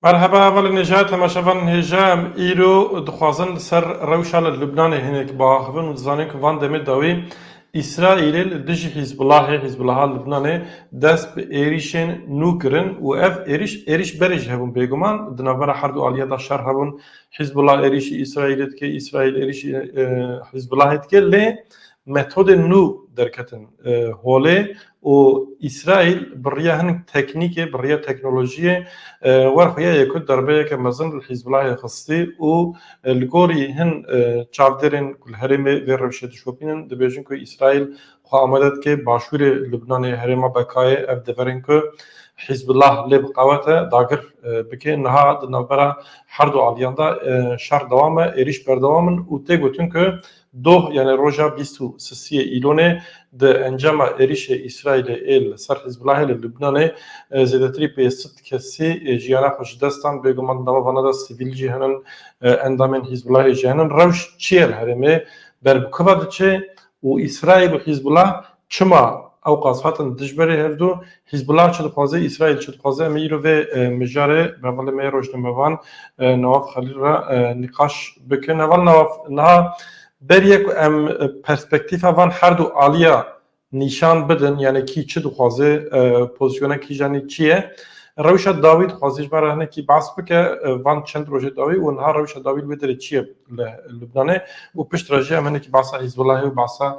Merheba Eva li Nêjaya Temaşevan Hêjam îro dixwazin li ser rewşa li Lubnanê hinek biaxivin û dizanin ku van demê dawî Îsraîlê li dijî Hîzbulahê, Hizbulaha Lubnanê, dest bi êrîşên nû kirin û ev êrîş êrîş berê jî hebûn bêguman di navbera her du aliyê de şer hebûn Hîzbulah êrîşî Îsraîlê dike, Îsraîl êrîşî Hîzbulahê dike lê Metodên nû derketin holê û Îsraîl bi riya hinek teknîkê, bi riya teknolojiyê wer xuya yê ku derbeyeke mezin li Hîzbulahê xistî û li gorî hin çavdêrên ku li herêmê vê rewşê dişopînin dibêjin ku Îsraîl xwe amade dike başûrê Lubnanê herêma Bekayê ev deverên ku Hîzbulah lê bi qewet e dagir bike. Niha di navbera her du aliyan de şer dewam e, êrîş berdewam in û tê gotin ku Doh yanê roja bîst û sisiyê Îlonê di encama êrîşê Îsraîlê ê li ser Hizbulahê li Lubnanê zêdetirî pê sed kesî jiyana xwe ji dest dan. Bêguman di nava vanan de sivîl jî hene, endamên Hizbulahê jî hene. Rewş çi ye li herêmê? Ber bi ku ve diçe û Îsraîl û Hizbulah Çima ewqas hatin dijberê hevdu? Hîzbullah çi dixwaze, Îsraîl çi dixwaze? Em ê îro vê mijarê bi hevalê me ya rojnamevan Nawaf Xelîl re nîqaş bikin. Heval Nawaf, niha beriye ku em perspektîfa van her du aliya nîşan bidin, yanî kî çi dixwaze, pozîsyona kîjanî çi ye? Rewşa dawî dixwaze ji me re hinekî behs bike van çend rojê dawî û niha rewşa dawî li wê derê çi ye li Lubnanê û piştre jî em hinekî behsa Hîzbullahê û behsa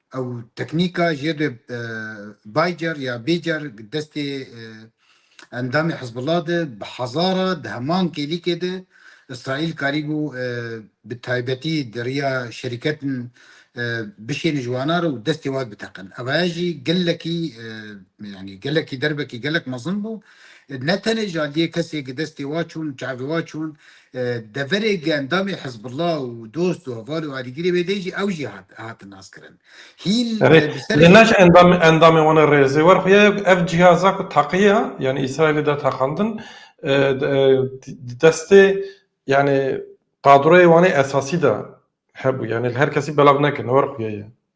Ew teknîka jê de baycar ya bêcar destê endamê Hizbullah de bi hezara di heman kêlîkê de Îsraîl karîbû bi taybetî di riya şerîketin bişêne ji wana re û destê wan biteqin. Ev haya jî gelekî yanî gelekî derbekî gelek mezin bû. Ne tenê ji aliyê kesê ki destê wan çûn, çavê wan çûn Deverê endamê Hizbullah û dost û heval û alîgirê wê de jî ew jî hat hatin naskirin. Hîn Erê, bi serê lê naş endam endamê wan e rêzê wer xuya ye ku ev cîhaza ku taqiya yanî Îsraîlê de taqandin e, e, di destê yanî qadroyê wan ê esasî de hebû. Yanî li her kesî belav nekin wer xuya ye.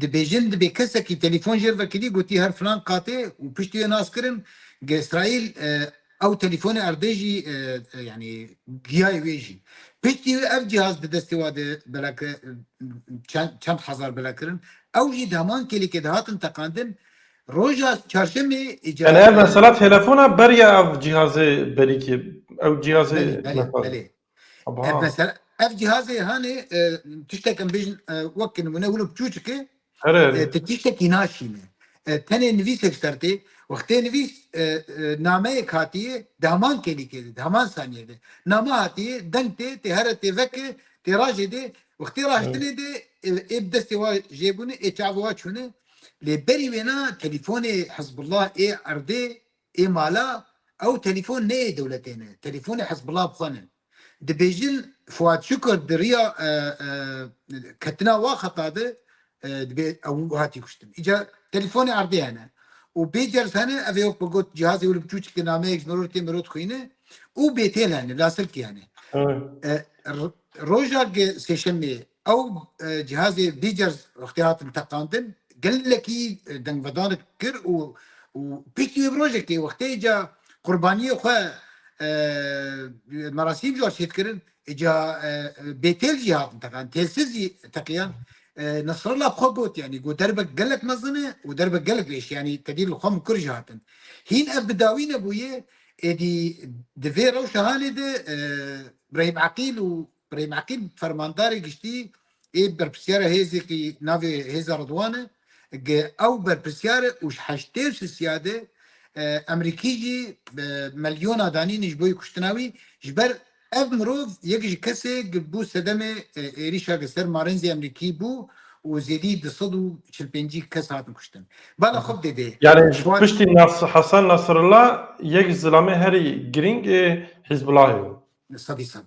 Dibêjin dibê kesekî telîfon jê re vekirî gotî her filan qatê û piştî wê nas kirin ge Îsraîl ew telîfonê erdê jî yanî giyayê wê jî. Piştî wê ev cîhaz di destê wan de bela ke çend çend hezar bela kirin. Ew jî di heman kêlekê de hatin teqandin. Roja çarşemê îcar. Belê ev mesela telefon a beriya ev cîhazê berî kê. Ew cîhazê. Belê belê belê. Ev mesela ev cihazê hanê e, tiştek em bêjin e, wek nimune wilo çûçik e Here e, here. tu tiştekî naşîne. E, Tenê nivîsek ji ser tê wextê nivîs e, e, nameyek hatiye di heman kelîkê de di heman saniyê de. Name hatiye deng tê tê here tê veke tê rajê de wextê raştinê de e, ê bi destê wa jê bûne ê çavê wa çûne. Lê berî wêna telîfonê Hizbullah ê erdê Ê mala ew telîfon neyê dewletê ne, telîfonê Hizbullah bi xwe ne. Dibêjin Fuat Şukur di riya ketina wa xeta de dibê ew hatî kuştin. Îca telîfonê erdê hene û pê cers hene ev ê wek bi got cihazê wili biçû çikê nameyek ji mirov tê mirov dixwîne û bêtêl hene, lasirkî hene. Roja sêşemê Ew cihazê Bîcers wextê hatin teqandin gelekî dengvedanik kir û û piştî wê bi rojekê wextê ca qurbaniyê xwe merasîm jor çêt kirin ca bêtêl jî hatin teqan têlsiz jî teqiyan Nasrallah bi xwe got yanî got derbek gelek mezin e û derbek gelek rêş yanî tedî li xwe min kur jî hatin. Hîn ev bi dawî nebûye êdî di vê rewşa hanê de Brahîm Eqîl û Birêm Eqîb fermandarê giştî ê berpirsyara hêzê kî navê Hêza Ridwan e, got ew berpirsyar e û ji heştê û si siyadê Emerîkî jî milyona danîn ji bo kuştina wî ji ber ev mirov yek ji kesê ki bû sedemê êrîşa ki ser marênzê Emerîkî bû û zêdî du sed û çil pêncî kes hatin kuştin. Bala xwe bi dê bê. Yanî ji piştî Hasan Nasrullah yek ji zilamê herî girîng ê Hîzbulahê bû. Sedî sed.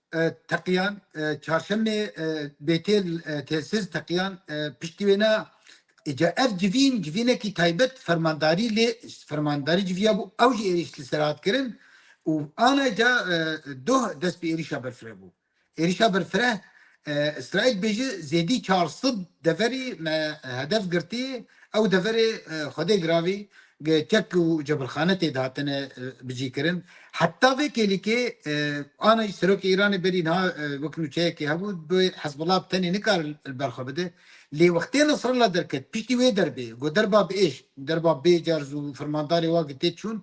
Teqiyan, Çarşemê Bêtêl Têsiz Teqiyan piştî wê ne ca ev civîn civînekî taybet fermandarî lê fermandarî civiya bû ew jî êrîş li ser hat kirin û ana ca doh dest bi êrîşa berfireh bû. Êrîşa berfireh Îsraîl bêje zêdî çar sed deverî me hedef girtî ew deverê Xwedê giravî kek û cebilxane tê de hatine bicîkirin. Heta vê kêlîkê ana jî Serokê Îranê berî niha wek nûçeyekê hebû bi Hizbullah bi tenê nikare li ber xwe bide. Lê wextê Nasrallah derket piştî wê derbê got derba bi êş, derba bê cerz û fermandarê wa ki tê çûn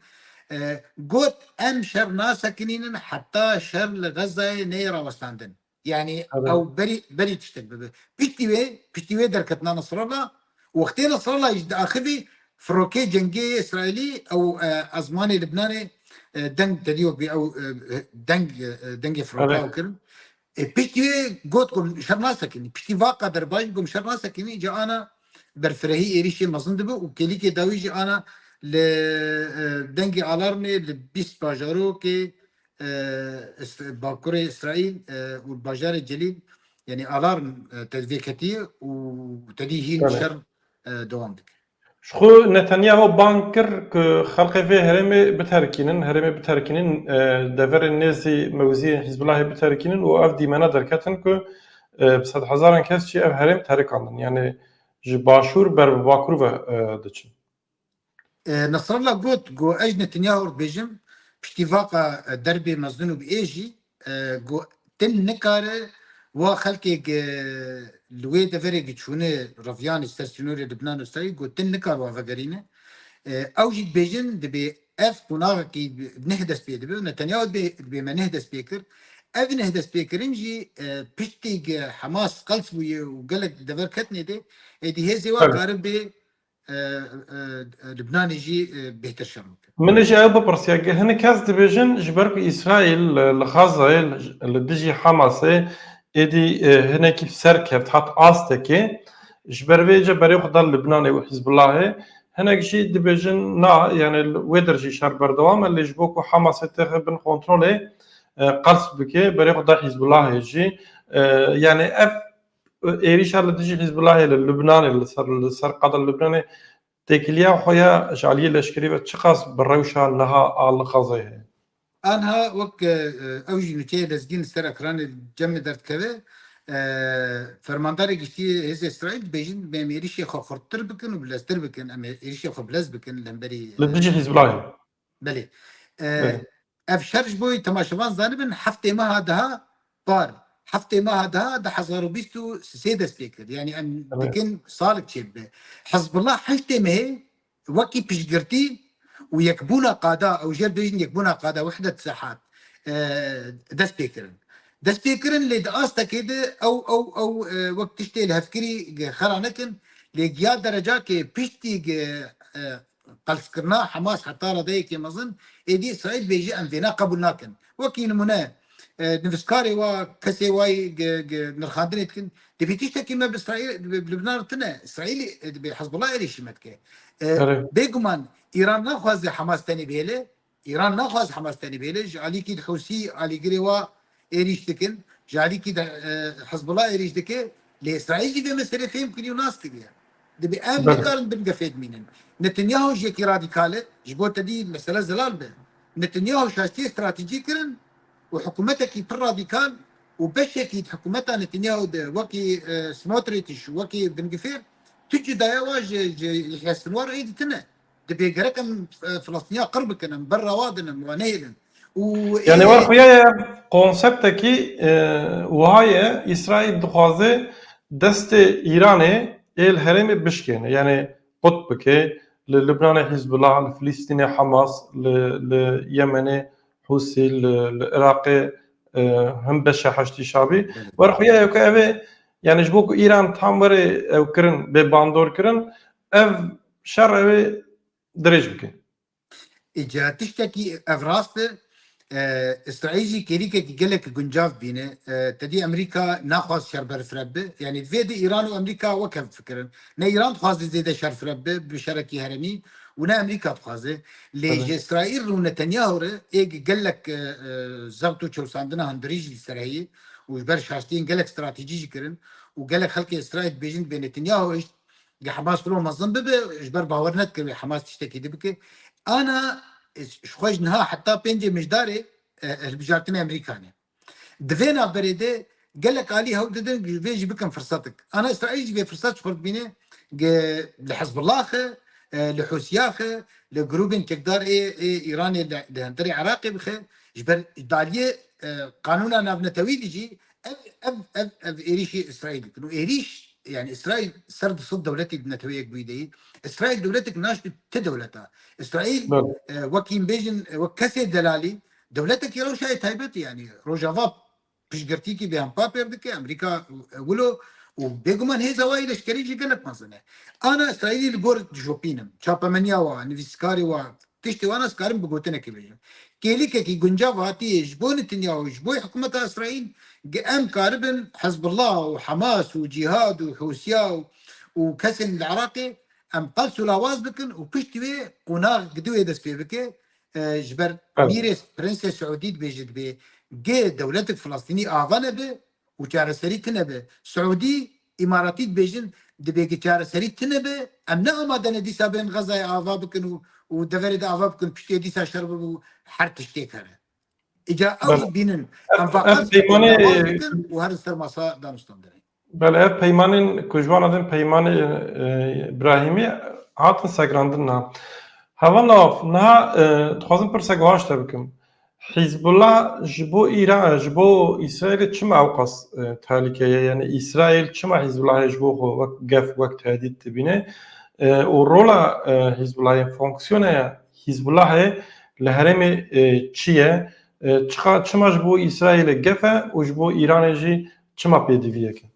got, Em şer nasekinînin heta şer li Xezzayê neyê rawestandin. Yani Evet. ew berî berî tiştek dibe. Piştî wê piştî wê derketina Nasrallah wextê Nasrallah ji di axivî firokê cengê yê Îsraîlî ew e, ezmanê Libnanê e, deng tedîyo bî ew e, deng e, dengê firoka Evet. ew kirin. E, piştî wê got ku min şer nasekinî. Piştî va qeder baş bû ku min şer nasekinî ca ana berfirehî êrîşê mezin dibe û kelîkê dawî jî ana li e, dengê alarmê li bîst bajarokê Bakurê Îsraîl û li bajarê Celîl yanî alarm tevdê ketiye û tedî hîn şer dewam dike. Ji xwe Netanyahu bang kir ku xelkê vê herêmê biterkînin, herêmê biterkînin, deverên nêzî mewziyên Hîzbulahê biterkînin û ev dîmena derketin ku bi sedhezaran kes jî ev herêm terikandin, yanî ji başûr ber bi bakur ve diçin. Nasrallah got ku ez ne tenya hor dibêjim, piştî vaqa derbê mezin û bi ê jî ku din nikare wa xelkê ku li wê deverê ku çûne reviyanê ser sînorê Libnan û Îsraîl ku din nikare wan vegerîne. Ew jî dibêjin dibê ev qonaxekî neh dest pê dibe û ne tenya dibê me neh dest pê kir. Ev neh dest pê kirin jî piştî ku Hemas qels bûye û gelek dever ketine dê, êdî hêzê wan karibê Lubnanê jî bêhtir şer bike. Min jî ew bipirsiya ke hinek kes dibêjin ji ber ku Îsraîl li Xazzayê li dijî Hamasê êdî hinekî bi ser kevt hat astekê ji ber vê jî berê xwe da Lubnanê û Hîzbulahê. Hinek jî dibêjin na yanê wê dir jî şer berdewam e lê ji bo ku Hamasê têxe bin kontrolê qels bike berê xwe da Hîzbulahê jî. Yanê ev êrîşa li dijî Hîzbulahê li Lubnanê li ser li ser qada li Lubnanê têkiliya xwe ya ji aliyê leşkerî ve çiqas bi rewşa niha a li Xezê heye? Anha wek ew jî nûçeyê lezgîn li ser ekranê cem li der dikeve, Fermandarê Giştî yê Hêzê Îsraîl dibêjin em êrîşê xwe xurttir bikin û bileztir bikin, em êrîşê xwe bilez bikin li hemberî Li dijî Hîzbulahê. Belê. Ev şer ji bo temaşevan zanibin heftê meha daha par heftê meha daha di hezar û bîst û sê dest pê kir. Yanî em dikin salik çê bibe. Hizbullah heştê mehê wekî piştgirtî û yekbûna qada ew jê bêjin yekbûna qada wehdet sehat dest pê kirin. Dest pê kirin lê di astekê de ew ew ew wek tiştê li hevkirî xera nekin lê giya derecakê piştî Qelskirina Hamas heta radeyekê mezin, êdî Îsraîl bê jî em vê ne qebûl nakin. Wekî nimûne nivîskarê wa, kesê wa yê nirxandinê dikin, divê tiştekî me bi Libnan re tune, Îsraîlê dibê Hizbullah êrîşî me dike. Bêguman Îran naxwaze Hamas tenê bihêle, Îran naxwaz Hemas tenê bêle, ji alîkî li Hûsî alîgirê wa êrîş dikin, ji alîkî de Hizbullah êrîş dike, lê Îsraîl jî vê meselê fêm kiriye û nas kiriye. Dibê em nekarin bin gefê dimînin. Netanyahu jî yekî radîkal e, ji bo tedî mesele zelal be. Netanyahu şastiyê stratejî kirin û hikûmetekî pir radîkal û beşekî di hikûmeta Netanyahu de wekî Smotrîtiş û wekî bingefêr tu cudaye wa ji Yehya Sinwar ê ditine. Dibê gerek em Filistîniya qir bikin, em berrewa din em wan nehêlin. Û Yani ê- war xuya ye konseptekî e, wiha ye İsrail dixwaze destê İranê ê li herêmê bişkêne. Yani qut bike li Lubnanê Hizbullah, li Filistînê Hamas, li li Yemenê Husî, li li Iraqê e, him beşa Heşdî Şabî. War xuya ye ku ev ê yani ji bo ku İran tam were ew kirin bê bandor kirin Ev şer ew ê dirêj bikin. Îca tiştekî ev rast e. Îsraîl jî kêrîkekî gelek guncav bîne. Tedî Amerîka naxwaz şer berfireb bi. Yanî divê di Îran û Amerîka wek hev bifikirin. Ne Îran dixwaze zêde şer fireb bi bi şerekî heremî û ne Amerîka dixwaze. Lê ji Îsraîl rû Netanyahu re ê gelek zebt û çewsandina hundirî jî li ser heye û ji ber şaştiyên gelek stratejî jî kirin û gelek xelkê Îsraîl dibêjin divê Netanyahu hişt Geh Hamas filo mezin bibe ji ber bawer nedike wê Hamas tiştekî di bike. Ana ji xwe ji niha heta pêncê mijdarê hilbijartinê Amerîkan e. Di vê navberê de gelek alî hewl didin ji vê jî bikin firsetik. Ana Îsraîl jî vê firset ji xwe dibîne li Hizbullaxe, li Hûsiyaxe, li grûbên çekdar ê ê Îranê li li hemberî Iraqê bixe. Ji ber daliyê qanûna navnetewî de jî Ev ev ev ev êrîşê Îsraîl dikin û êrîş yani Îsraîl ser di sed dewletê di neteweyek bûyî de yî. Îsraîl dewletek naşt bi ti dewleta. Îsraîl wekî em bêjin wek kesê delalî dewletekî rewşayê taybetî yani Rojava piştgirtîkî bê hem papêr dike Amerîka wilo û bêguman hêza wayî leşkerî jî gelek mezin e. Ana Îsraîlî li gor dijopînim çapemeniya wa, nivîskarê wa, Piştî wan ez dikarim bi gotinekê bêjim. Kêlîkekî guncav hatiyê ji bo Nitinya û ji bo hikûmeta Îsraîl ge em karibin Hizbullah û Hemas û Cîhad û Hûsiya û kesên li Iraqê em qels û lawaz bikin û piştî wê qonax gi duwê dest pê bike ji ber mîrê Prinsê Siûdî dibêje dibê ge dewletik Filistînî ava nebe û çareserî tune be. Siûdî Îmaratî dibêjin divê ki çareserî tune be, em ne amade ne dîsa bên Xezayê ava bikin û û deverê de ava bikin piştî dîsa şer bibe û her tiştê keve. Îca ew Bel- jî bînin em ev vaqas bikin, peymanê- lawaz bikin û herin ser masa danistan derê. Belê ev peymanên ku ji wan re tên peymanê e, Îbrahîmî hatin segrandin niha. Heval nav niha e, dixwazim pirsek wiha ji te bikim. Hîzbullah ji bo Îra ji bo Îsraîlê çima ewqas tehlike ye? Yanî Îsraîl çima Hîzbullahê ji bo xwe wek gef, wek tehdît dibîne? Û rola Hîzbullahê, fonksiyona ya Hîzbullahê li herêmê çi ye? Çiqa çima ji bo Îsraîlê gef e û ji bo Îranê jî çima pêdiviyek e?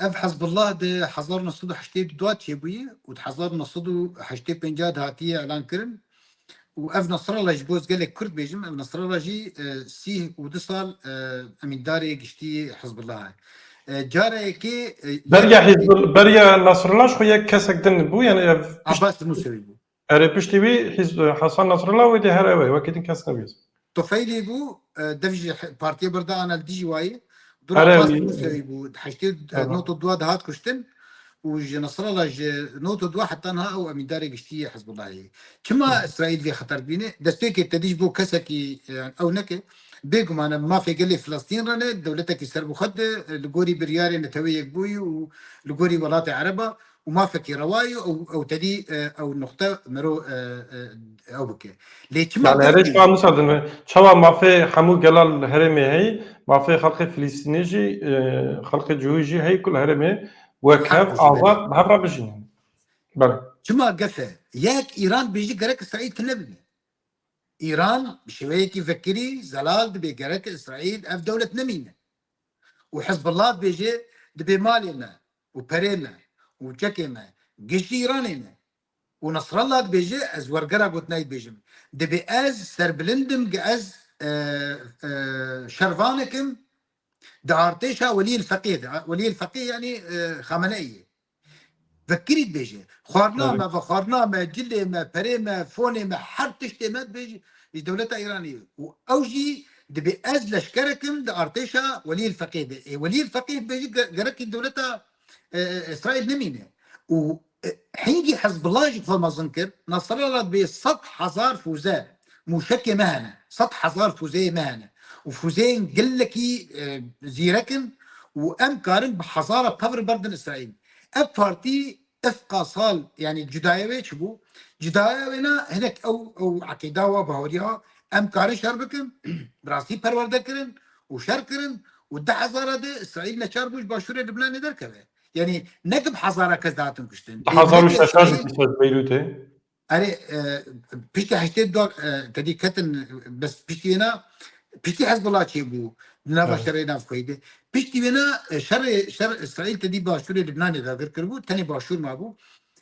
Ev Hizbullah di hezar û neh sed û heştê du da çêbûye û di hezar û neh sed û heştê û pêncî de hatiye elankirin û ev Nasrallah ji bo ez gelek kurd bêjim ev Nasrallah jî sîh û du sal emîndarê giştî Hizbullah e. Cara yekê Beriya Hizbul beriya Nasrallah ji xwe yek kesek din bû yanî ev Abbas Musewî bû. Erê piştî wî Hasan Nasrallah wê dê her ew e wekî din kes nebî. Tufeylî bû dev jî partiyê birda ana li dijî wayî. Dura qas Rûsyayî bû heştê not û dua de hat kuştin û ji Nasrallah ji not û dua heta niha ew emîndarê giştî yê Hizbullahê ye. Çima Îsraîl vê xeter dibîne? Destpêkê tevî ji bo kesekî ew neke. Bêguman em mafê gelê Filistîn re ne dewletekî serbixwe di li gorî biryarê Neteweyê Yekbûyî û li gorî welatê Ereba û mafekî rewa ye û ew tevî ew nuqte mero ew bike. Lê çima Yani herêj ka Musa din ve. Çawa mafê hemû gela li herêmê heyî, mafê xelkê Filîstînê jî, xelkê cihûyî jî heyî ku li herêmê wek hev, azad, bi hev re bijînin. Belê. Çima gef e? Yek, Îran bêjî gerek Îsraîl tune bibî. Îran bi şêweyekî vekirî, zelal dibê gerek Îsraîl ev dewlet nemîne. Û Hizbullah dibêje dibê malê me. û perê me û çekê me gihîştî Îranê me û Nasrallah dibêje ez wergera gotinayî dibêjim dibê ez serbilind bim ge ez şervanek im di artêşa Welîyil Feqîh de, Welîyil Feqîh yanî Xameneî ye vekirî dibêje xwarina me ve xwarina me cilê me perê me fonê me her tiştê me dibêje ji dewleta Îranê ye û ew jî Dibê ez leşkerek im di artêşa Welîyil Feqîh de. Ê Welîyil Feqîh be jî gerekî dewleta Îsraîl nemîne. Û hingî Hizbullah jî xwe mezin kir. Nasrallah dibê sed hezar fûze, mûşekê me hene. Sed hezar fûzeyê me hene. Û fûzeyên gelekî zîrek in û em karin bi hezara tevr berdin Îsraîl. Ev partî Efqa sal yanî cudaya wê çi bû? Cudaya wê ne hinek ew ew eqîda wa baweriya em karin şer bikin bi rastî perwerde kirin û şer kirin û di hezara de Îsraîl neçar bû ji başûrê Libnanê derkeve. Yanî ne di bi hezara kes de hatin kuştin. Di hezar û şeş şeş û bîst û şeş Beyrûtê Erê piştî heştê dal tedî ketin bes piştî wêna piştî Hezbollah çêbû di nava Evet. şerê navxweyî de. Piştî wêna şerê şer İsraîl tedî başûrê Libnanê de vir kiribû, tenê başûr mabû.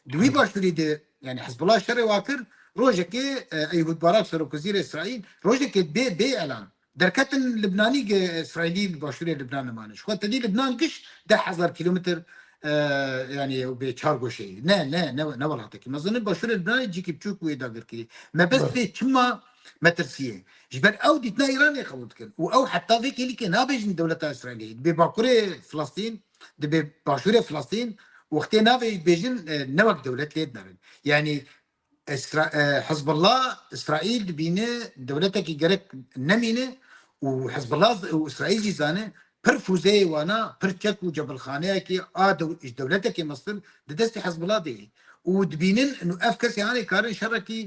Di wî Evet. başûrî de yani Hezbollah şerê wa kir rojekê Eyhûd Barak Serokwezîrê İsraîl rojekê bê bê elan Derketin Libnanî ge Îsraîlî li başûrê Libnan nimane. Ji xwe tedî Libnan giş deh hezar kîlometr yanî ew bê çar goşê ye. Ne ne ne ne welatekî mezin e. Başûrê Libnanê cîkî biçûk bûye dagirkirî. Me bes vê çima metirsîye. Ji ber ew dîtina Îranê qebûl dikin û ew heta vê kêlîkê nabêjin dewleta Îsraîlê. Dibê Bakurê Filistîn, dibê Başûrê Filistîn wextê navê bêjin ne wek dewlet lê dinarin. Yanî Hizbullah Îsraîl dibîne dewletekî gerek nemîne û Hizbullah û Îsraîl jî zane pir fûzeyê wana pir çek û cebilxaneyekê a ji dewletekê mestir di destê Hizbullah de yê û dibînin nu ev kesê anê karin şerekî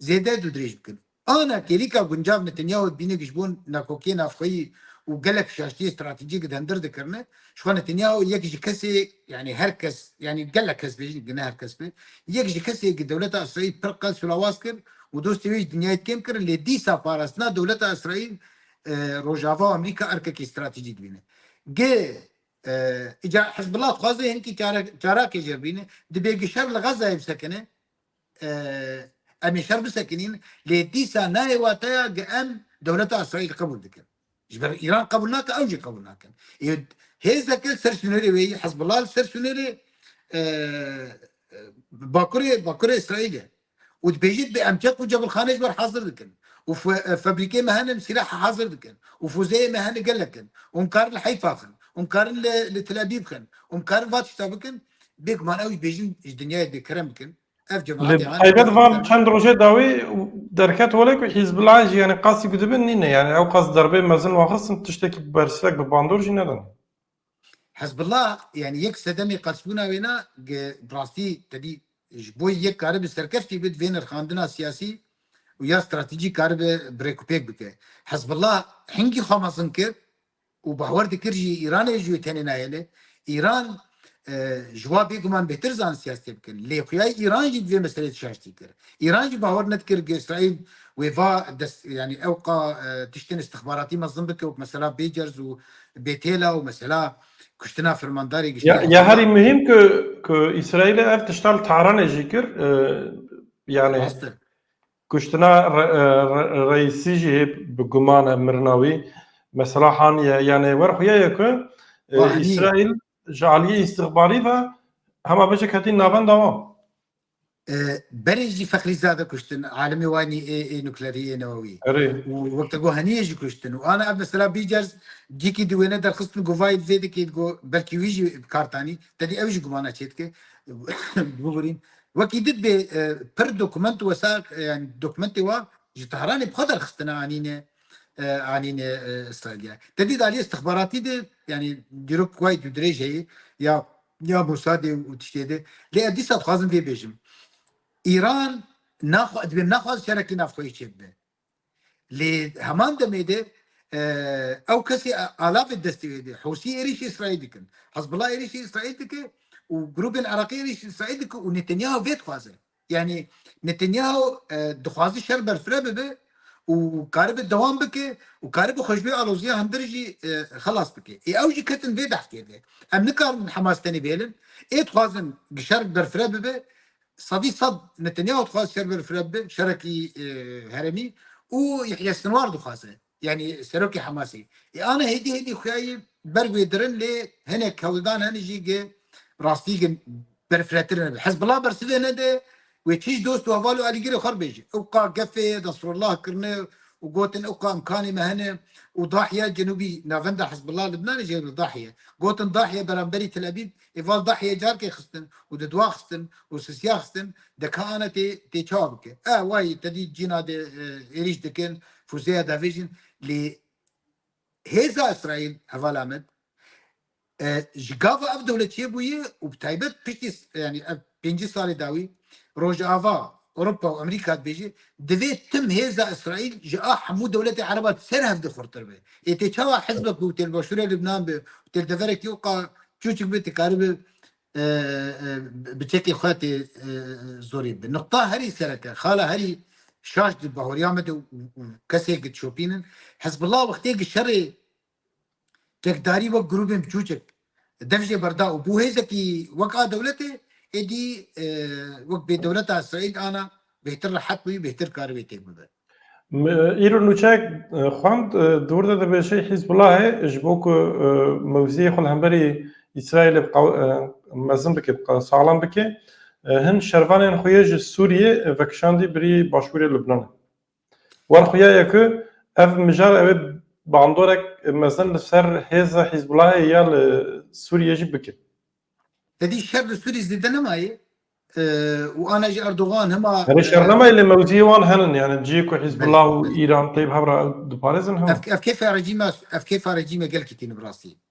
zêde dûdirêj bikin. Ana kêlîka guncav Netanyahu dibîne ku ji bo nakokiyê navxweyî û gelek şaştiyê stratejîk di hem dir dikirine. Jixwe Netanyahu yek ji kesê yanî her kes yanî gelek kes bêjin ku ne her kes be yek ji kesê ku dewleta Îsraîl pir qels û lawaz kir û dostê wê ji dinyayê dikêm kirin lê dîsa parastina dewleta Îsraîl Rojava û Amerîka erkekî stratejî dibîne. Gi îcar Hizbullah dixwaze hênkî çarakê jêr bîne. Dibê ku şer li Xezzayê bisekine. Em ê şer bisekinîn lê dîsa nayê wateya ge em dewleta Îsraîl qebûl dikin. Ji ber Îran qebûl nake ew jî qebûl nakin. Ê hêzeke ser sunêrê wê yî Hizbullah li ser sunêrê bakurê bakurê Îsraîlê û dibêjit bê em çek û cebilxanê ji ber hazir dikin û febrîkê me hene em sîlah hazir dikin û fuzeyê me hene gelek in û em karin li Heyfa xin û em karin li Tel Abîb xin û em karin va tişta bikin Bêguman ew jî bêjin ji dinyayê dê kerem bikin. Ev cemaatê Li taybet van çend rojê dawî derket wele ku Hîzbulan jî yani qasî ku dibin nîne yani ew qas derbê mezin waxistin tiştekî bersivek bi bandor jî nedin. Hezbollah yani yek sedemê qasbûna wê na bi rastî tedî ji bo yek karibi serkeftî bid vê nirxandina siyasî û ya stratejîk karibe birêkûpêk bike. Hezbollah hingî xwe mezin kir û bawer dikir jî Îranê ji wê tenê nayêle. Îran ji wa bêguman bêhtir zanî siyasetê bikin. Lê xuya Îran jî di vê meseleyê tişaştî kir. Îran jî bawer nedikir ku Îsraîl wê va dest yanî ew qa tiştên îstixbaratî mezin bike wek mesela bêcerz û bêtêla û mesela kuştina fermandarê giştî Hezbollah. Ya herî muhîm ku ku Îsraîlê ev tiştan li Tehranê jî kir yanî. Rast e. Kuştina Reîsî jî bi guman e mirina wî mesela haniye yanê wer xuya ye ku Îsraîl ji aliyê îstixbarî ve hema bijî ketîn navenda wan. Berê jî Feqrîzade kuştin alimê wanî ê nuklerî ê newewî û wek te got heniyê jî kuştin û ana ev mesela bî cers cîkî di wêne derxistin û govayî di vê dikê di got belkî wî jî bi kar tanî tedî ew jî gumana çêdike bigurîn Wekî di dibê pir dokument wesa yan dokumentê wa ji Tehranê bi xwe derxistine anîne anîne Îsraîlîya. Te dît aliyê îstixbaratî de yanî dîrok wayî tu dirêje yê ya ya Mosadê û tiştê de. Lê ez dîsa dixwazim vê bêjim. Îran naxwe divê naxwaze şerekî navxweyî çêbibe. Lê heman demê de ew kesê alavê destê wê dê. Hûsî êrîşê Îsraîl dikin. Hezbullah êrîşê Îsraîl dike û grûbên Iraqî êrîşê Îsraîl dike û Netanyahu vê dixwaze. Yanî Netanyahu dixwaze şer berfire bibe û karibe dewam bike û karibe xwe ji vê aloziya hundir jî xelas bike. Ê ew jî ketin vê behsê de. Em nikarin Hemas tenê bihêlin. Ê dixwazin şer berfire bibe Sedî sed Netanyahu dixwaze server fireb bi şerekî heremî û Yehya Sinwar dixwaze yanî serokê Hemasê. Ê ana hêdî hêdî xuyayî berg wê dirin lê hinek hewldan hene jî gi rastî gi berfirehtir nebe. Hezbullah bersivê nede wê çîj dost û heval û alîgirê xwe bibêje. Ew qa gefê Nesrullah kirine û gotin ew qa imkanê me hene û Dahya cenûbî navenda Hezbullah Libnanê jê li Dahye. Gotin Dahye beramberî Tel Ebîb Eval da heye carkê xistin û di dua xistin û sisiya xistin de ka ane tê tê çawa bike. Eh way tedî cîna de êrîş dikin, fûzeya davêjin lê hêza Îsraîl hevala min ji gava ev dewletçiyê bûye û bi taybet piştî yanî ev Pêncî salê dawî Rojava, Ewropa û Amerîka dibêje, divê tim hêza Îsraîl ji a hemû dewletê Ereba di ser hevdî xurttir be. Ê tê çawa hizbek ku tê li başûrê Libnan be û tê li deverekî oqa çûçik be dikaribe bi çekê xwe tê zorî bibe. Nuqta herî sereke, xala herî şaş di bawerîya me de û kesê ki dişopînin, Hizbullah wextê ki şerê Çekdarî wek grûbên biçûçik dev jê berda û bû hêzekî wek a dewletê, êdî wek bê dewleta Îsraîl ana bêhtir rehet bûyî, bêhtir karî wê têk bibe. Îro nûçeyek xwend di wir de dibêje Hîzbulahê ji bo ku mewziyê xwe li hemberî Îsraîlê mezin bike, bi qada saxlem bike, hin şervanên xwe yê ji Sûriyê vekişandî birî başûrê Lubnanê. Wan xuyayê ku ev mijar ew ê bandorek mezin li ser hêza Hîzbulahê ya li Sûriyê jî bike. Tedî şer li Sûriyê zêde nemayê û ana jî Erdogan hema. Herî şer nemayê lê mewziyê wan henin yanî cihê ku Hîzbulah û Îran tê bi hev re ew diparêzin hema. Ev kêfa rejîma ev kêfa rejîmê gelkî tîni bi rastî.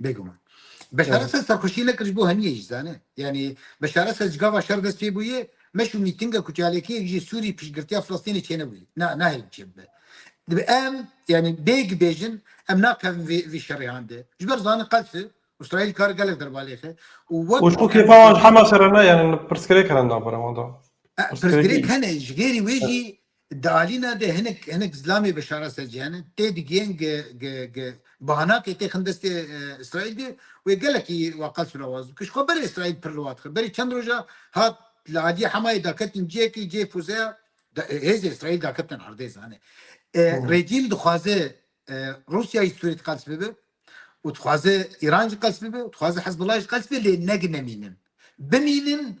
Bêguman. Beşara Esed serxweşiyê nekir ji bo heniyê jî zane. Yanî Beşara Esed ji gava şer dest pê bûyê, meş û mîtinga ku çalakiyek ji Sûrî piştgirtiya Filistînê çênebûyê. Na, nahêlin çêbibe. Dibe em, yanî bêg bêjin, em nakevin vê vê şerê hande. Ji ber zanin qels e. Îsraîl kar gelek derbalêxe û wek Û ji ku ku em kêfa wan ji hema şere ne, yanî pirsgirêk hene navbera wan de. Pirsgirêk Pirsgirêk hene. hene ji gêrî wê jî Di alîna de hinek hinek zilamê veşara ser cîhan e, tê digihên ge ge ge bahanakê tê xin destê Îsraîl de wê gelekî wa qels û lawaz bike. Ji xwe berê Îsraîl pir liwa dixe. Berê çend roja hat li aliyê Hemayê daketin ciyekî cê fûzeya hêzê Îsraîl daketin erdê zanê. Rejîm dixwaze Rûsyayê Sûrîd qels bibe û dixwaze Îran jî qels bibe û dixwaze Hizbullah jî qels bibe lê ne ginemînin. Bimînin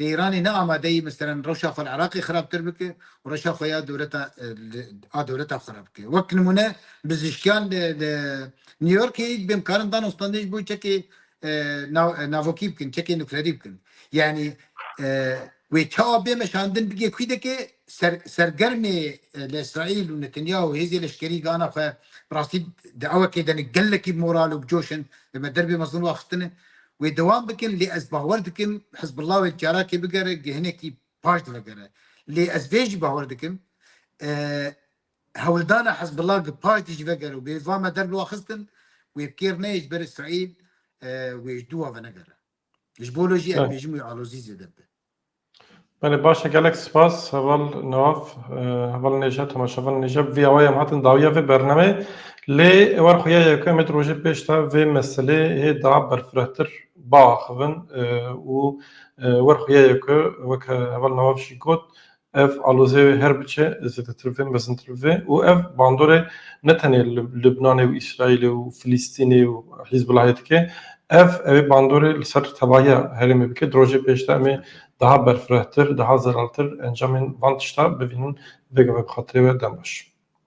Lê Îranê ne amade yî misteran rewşa xwe li Iraqê xirabtir bike û rewşa xwe ya dewleta a dewleta xwe re bike. Wek nimûne bizîşkiyan li li New Yorkê yî dibên karin dan û standê ji bo çekê navokî bikin, çekê nuklerî bikin. Yanî wê çawa bê meşandin bigê kwîdekê ser sergermê li Îsraîl û Netanyahu û hêzê leşkerî gana xwe bi rastî di ewekê de ne gelekî bi moral û bi coş in li me derbê mezin û axistin e. Wê dewam bikin lê ez bawer dikim Hizbullah wek carakê bigere gihinekî paş divegere. Lê ez vê jî bawer dikim hewldana Hizbullah gi paş dî jî vegere û bê va me der biwa xistin wê kêr neyê ji ber Îsraîl wê ji dû wa venegere. Ji bo lo jî ez bêjim wê alozî zêde bibe. Belê baş e gelek spas heval nav heval nêje temaşevan nêje vê awayê em hatin dawiya vê bernameyê lê êwar xwe ya yekem ê di rojê pêş de vê meselê hê da berfirehtir biaxivin û êwar xwe ya yeke weke heval nav jî got Ev alozê wê her biçe zêdetir vê mezintir vê û ev bandorê ne tenê li Libnanê û Îsraîlê û Filîstînê û Hîzbulahê dike. Ev ew ê bandorê li ser tevahiya herêmê bike. Di rojê pêş de em ê daha berfirehtir, daha zelaltir encamên van tişta bibînin. Vêga me bi xatirê we dem baş.